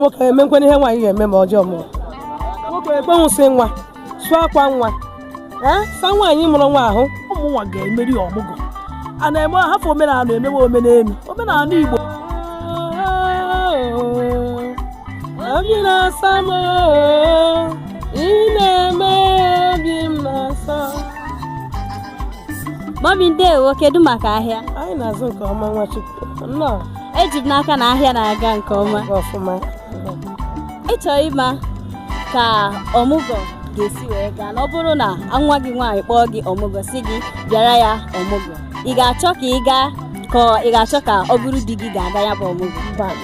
nwoke emenwukwanụ ihe nwaanyị ga-eme ma o je ọmụgwọ nwoke ekponwu nsị nwa sụọ akwa nwa ee sa nwaanyị mụrụ nwa ahụ mụwa ga-emeri ọmụgwọ a na-eme hafụ omenala emewe omenelu omenala igbo obi na-asa m oo, ị na-eme obi m na-asa Mọmi ndewo kedu maka ahịa anyị na-azụ nke ọma nwachukwu eji m n'aka na ahịa na-aga nke ọma ịchọ ịma ka ọmụgwọ ga-esi wee gaa na ọ bụrụ na nwa gị nwaanyị kpọọ gị ọmụgwọ sị gị bịara ya ọmụgwọ ị ga-achọ ka ị gaa ka ị ga-achọ ka ọ bụrụ di gị ga-aga ya bụ ọmụgwọ nwaanyị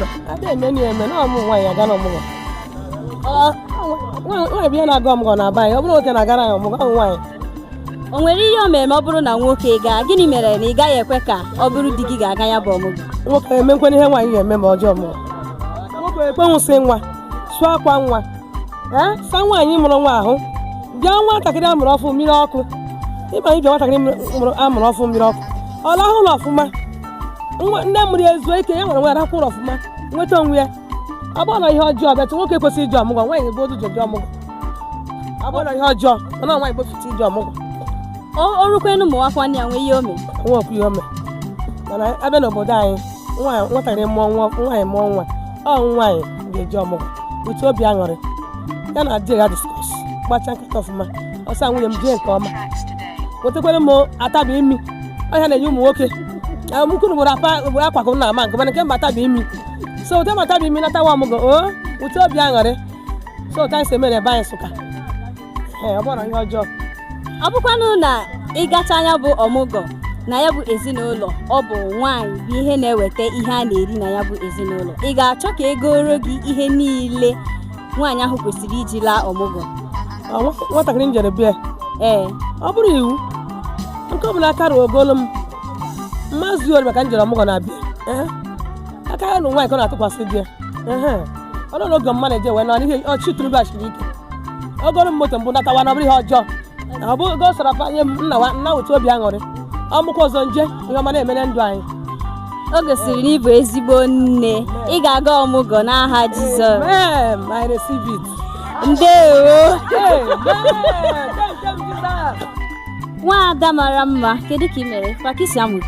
bụ ya na-aga ọmụgwọ na be anyị ọ bụrọ nwoke na-agara ya ọmụgwọ ọ bụ nwaanyị o nwere ihe o mere ma ọ bụrụ na nwoke gaa gịnị mere na ị gaghị ekwe ka ọ bụrụ di gị ga-aga ya bụ ọmụgwọ nwoke emenwukwanụ ihe nwaanyị ga-eme ma o je ọmụgwọ nwoke ekponwu nsị nwa sụọ akwa nwa ee sa nwaanyị mụrụ nwa ahụ bịa nwatakịrị a mụrụ ọfụụ mmiri ọkụ ị ma na ị bịa nwatakịrị a mụrụ ọfụụ mmiri ọkụ ọ lahụ ụla ọfụma nne mụrụ ya ezuo ike ya nwere nwa ya rahụ ụra ọfụma nweta onwe ya ọ bụrọnụ ihe ọjọọ but nwoke ekwesịrọ ije ọmụgwọ nwaanyị bụ onye ji eje ọmụgwọ ọ bụrọnụ ihe ọjọọ mana nwaanyị bụfụta ije ọmụgwọ o rukwenu ụmụ nwakwa nne ya nwee ihe o mere nwa okwu ihe o mere mana a bịa n'obodo anyị nwaanyị nwatakịrị mụọ nwa nwaanyị mụọ nwa ọ nwaanyị ga-eje ọmụgwọ ụtọ obi aṅụrị ya na di ya diskọs gbacha nkata ọfụma ọ sị nwunye m jee nke ọma wetekwere m ụtaba imi ọ ihe a na-enye ụmụ nwoke mkụrụ gboro akwa akwa ka m na-ama nke mana nke mba ụtaba imi so wete m ụtaba imi natawa ọmụgwọ ụtọ obi aṅụrị so otu anyị si eme na be anyị Nsụka ee ọ bụrọnụ ihe ọjọọ ọ bụkwanụ na ị gachaa ya bụ ọmụgwọ na ya bụ ezinụlọ ọ bụ nwaanyị bụ onye na-eweta ihe a na-eri na ya bụ ezinụlọ ị ga-achọ ka e goro gị ihe niile nwaanyị ahụ kwesịrị iji laa ọmụgwọ Ọ nwa- nwatakịrị m jere be ya ee ọ bụrọ iwu nke ọ bụla aka ruo o golo m mmazi ori maka m jere ọmụgwọ na be ya ee aka ya na nwaanyị ka ọ na-atụkwasị di ya ọ nọ n'oge mma na-eje wee nọ n'ihe ọchị turuba chiri ị ga-egoro m moto m bu natawa na ọ bụrọ ihe ọjọọ ọ bụ ego sọrọ fa nye m m nawa m nawa ụtọ obi aṅụrị ọ mụkwa ọzọ m je ihe ọma na-eme na ndụ anyị o gosiri na ị bụ ezigbo nne ị ga-aga ọmụgwọ n'aha Jizọs Amen. I receive it. ndewo Amen. Thank you, Jesus. nwa ada mara mma kedu ka ị mere pakisi amụke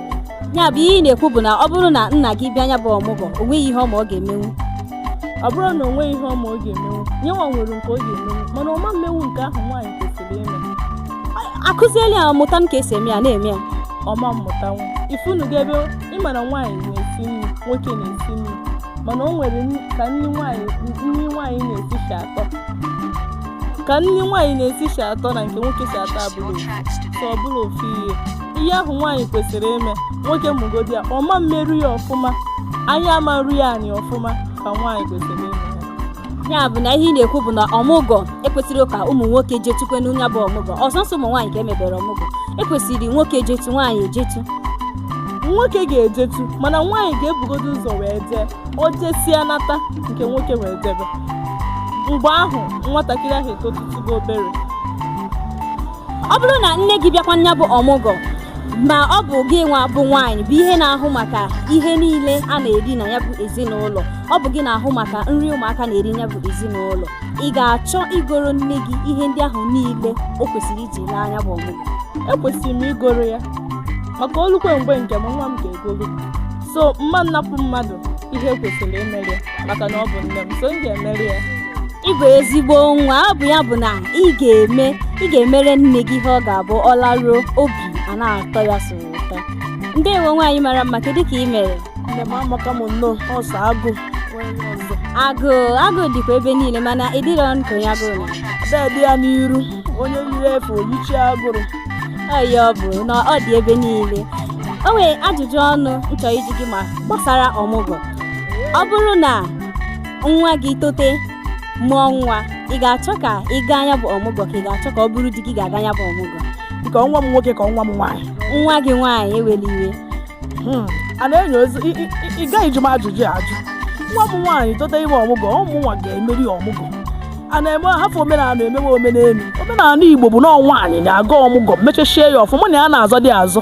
ya bụ ihe ị na-ekwu bụ na ọ bụrụ na nna gị bịa nya bụ ọmụgwọ o nweghị ihe ọma ọ ga-emenwu ọ bụrụ na o nweghị ihe ọma ọ ga-emenwu nya nwa nwere nke ọ ga-emenwu mana ọ ma mmenwu nke ahụ nwaanyị kwesịrị ime akụziela ya mụta ka e si eme ya na-eme ya ọ ma mmụtanwu ị fụnugo ebe ị ma na nwaanyị na-esi nri nwoke na-esi nri mana o nwere ka nri nwaanyị nri nwaanyị na-esi si atọ ka nri nwaanyị na-esi si atọ na nke nwoke si atọ abụrọ so ọ bụrọ ofu ihe ihe ahụ nwaanyị kwesịrị ime nwoke mụgodi ya ọ ma mmeru ya ọfụma anya ama nru ya anị ọfụma ka nwaanyị kwesịrị ime ya bụ na ihe ị na-ekwu bụ na ọmụgwọ ekwesịrọ ka ụmụ nwoke jetukwenụ nya bụ ọmụgwọ ọ sọsọ ụmụ nwaanyị ka e mebere ọmụgwọ ekwesịrị nwoke jetu nwaanyị ejetu nwoke ga-ejetu mana nwaanyị ga-ebugodo ụzọ wee jee o jesịa nata nke nwoke wee jebe mgbe ahụ nwatakịrị ahụ etotutugo obere ọ bụrụ na nne gị bịakwa nya bụ ọmụgwọ ma ọ bụ gị nwa bụ nwaanyị bụ ihe na-ahụ maka ihe niile a na-eri na nya bụ ezinụlọ ọ bụ gị na-ahụ maka nri ụmụaka na-eri nya bụ ezinụlọ ị ga-achọ igoro nne gị ihe ndị ahụ niile o kwesịrị iji laa nya bụ ọmụgwọ ekwesịrị m igoro ya maka o lukwe mgbe nke m nwa m ga-egolu so m ma nnapụ mmadụ ihe kwesịrị imeri ya maka na ọ bụ nne m so m ga-emeri ya ị bụ ezigbo nwa ọ bụ ya bụ na ị ga-eme ị ga-emere nne gị ihe ọ ga-abụ ọ laruo obi ana-atọ ya sọ ụtọ ndewo nwaanyị mara mma kedu ka ị mere nne m amaka m nnọọ ọ sọ agụ agụụ agụụ dịkwa ebe niile mana ị dịrọ nke onye agụụ na ada dị ya n'iru onye yiri efe o yichie agụrụ ọ ya bụ na ọ dị ebe niile o nwere ajụjụ ọnụ m chọ ịjụ gị ma gbasara ọmụgwọ ọ bụrụ na nwa gị tote mụọ nwa ị ga-achọ ka ị gaa nya bụ ọmụgwọ ka ị ga-achọ ka ọ bụrụ di gị ga-aga nya bụ ọmụgwọ nke nwa m nwoke ka nwa m nwaanyị nwa gị nwaanyị ewela iwe hmm. a na-enyo ozi ị gaghị jụ m ajụjụ ahụ nwa m nwaanyị tote ime ọmụgwọ ọ mụ nwa ga-emeri ọmụgwọ anaghị m ahafụ omenala emewe omenelu omenala igbo bụ na nwaanyị na-aga ọmụgwọ mechachie ya ọfụma na ya na-azọdị azọ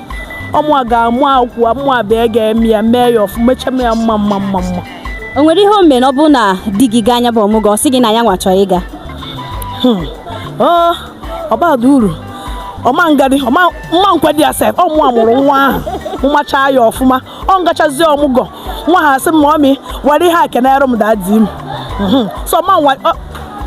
ọ mụa ga-amụ akwụkwọ amụ abịa ga-eme ya mee ya ọfụma mechame ya mma mma mma mma o nwere ihe o mere ọ bụ na di gị gaa nya bụ ọmụgwọ ọ sị gị na ya nwa chọrọ ịga hmm. oh, ọ bara uru ọ ma ngadị m ma nkwedị ya sef ọ mụwa mụrụ nwa ahụ mụmachaa ya ọfụma ọ m gachazie ọmụgwọ nwa ahụ sị m ọ mị were ihe e kenyere m daa di m mhm. so ma o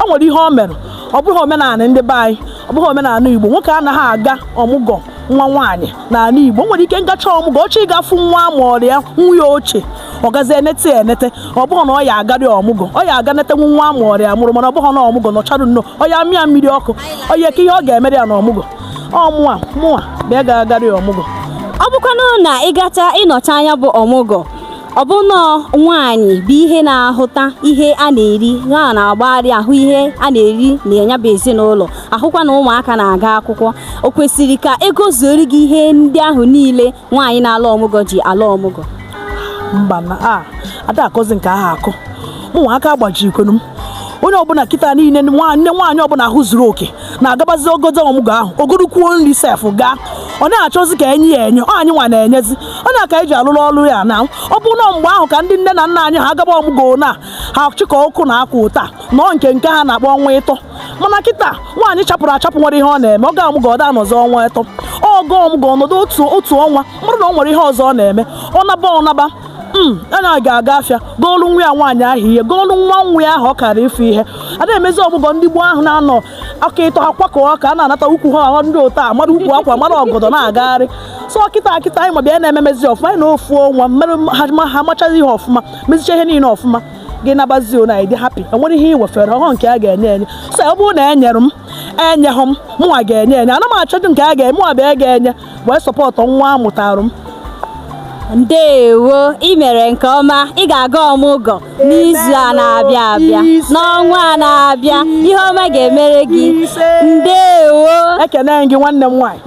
nwere ihe o mere ọ bụghị omenala ndị be anyị ọ bụghị omenala igbo nwoke anaghị aga ọmụgwọ nwa nwaanyị n'ala igbo nwere ike m gacha ọmụgwọ ọ chọọ ịga fụ nwa ma ọrịa nwa ya ochie ọ gazi enete ya enete ọ bụghị na ọ ya agarị ọmụgwọ ọ ya aga netenwu nwa ma ọrịa mụrụ mana ọ bụghị na ọmụgwọ nọcharụ nnọọ ọ ya mịa mmiri ọkụ ọ ya ka ihe ọ ga-emere ya na ọmụgwọ ọ mụa mụwa bịa gaa gara ya ọmụgwọ ọ bụkwanụ na ị gacha ịnọchi anya bụ ọmụgwọ ọ bụ nọọ nwaanyị bụ ihe na-ahụta ihe a na-eri ya na-agbagharị ahụ ihe a na-eri na ya bụ ezinụlọ ahụkwa na ụmụaka na-aga akwụkwọ o kwesịrị ka e gozuoro gị ihe ndị ahụ niile nwaanyị na-ala ọmụgwọ ji ala ọmụgwọ mba na a da akọzi nke ahụ akọ mụnwa aka agbaji ikwenu m onye ọbụla kịta niile nne nwaanyị ọbụla ahụ zuru oke na-agabazi ogodo ọmụgwọ ahụ o gorukwuo nri sef gaa onye na-achọzi ka e nye ya enye ọ anyịnwa na-enyezi ọ na ka anyị ji alụrụ ọrụ ya na ọ bụ na mgbe ahụ ka ndị nne na nna anyị ha agaba ọmụgwọ na ha chịkọ ọkụ na akwa ụta nọọ nke nke ha na-akpọ ọnwa ịtọ mana kịta nwaanyị chapụrụ achapụ nwere ihe ọ na-eme ọ gaa ọmụgwọ ọ da anọzi ọnwa ịtọ ọ gaa ọmụgwọ ọ nọdụ otu otu ọnwa ọ bụrụ na ọ nwere ihe ọzọ ọ na-eme ọ naba ọ naba mana ya ga-aga afịa goolu nwa ya nwaanyị ahụ ihe goolu nwa nwa ya ahụ ọ gara ịfụ ihe a na-emezi ọmụgwọ ndị gboo ahụ na-anọ aka ịtọ ha kwakọọ ka ha na-anata ukwu ha ahụ ndị otu a mara ukwu akwa mara ọgọdọ na-agagharị so kịta kịta anyịnwa bịa na-ememezi ọfụma anyị nọọ ofu ọnwa mere ha ha machazi ihe ọfụma mezicha ihe niile ọfụma gị nabazi na ị dị happy e nwere ihe i wefere ọhụụ nke a ga-enye enye so ọ bụrụ na e nyere m enyeghị m mụnwa ga-enye enye ana m achọdị nke a ga-eme mụnwa bịa ga-enye wee support nwa a mụtara m ndewo ị mere nke ọma ị ga-aga ọmụgwọ n'izu a na-abịa abịa n'ọnwa a na-abịa ihe ọma ga-emere gị ndewo ekene gị nwanne m nwaanyị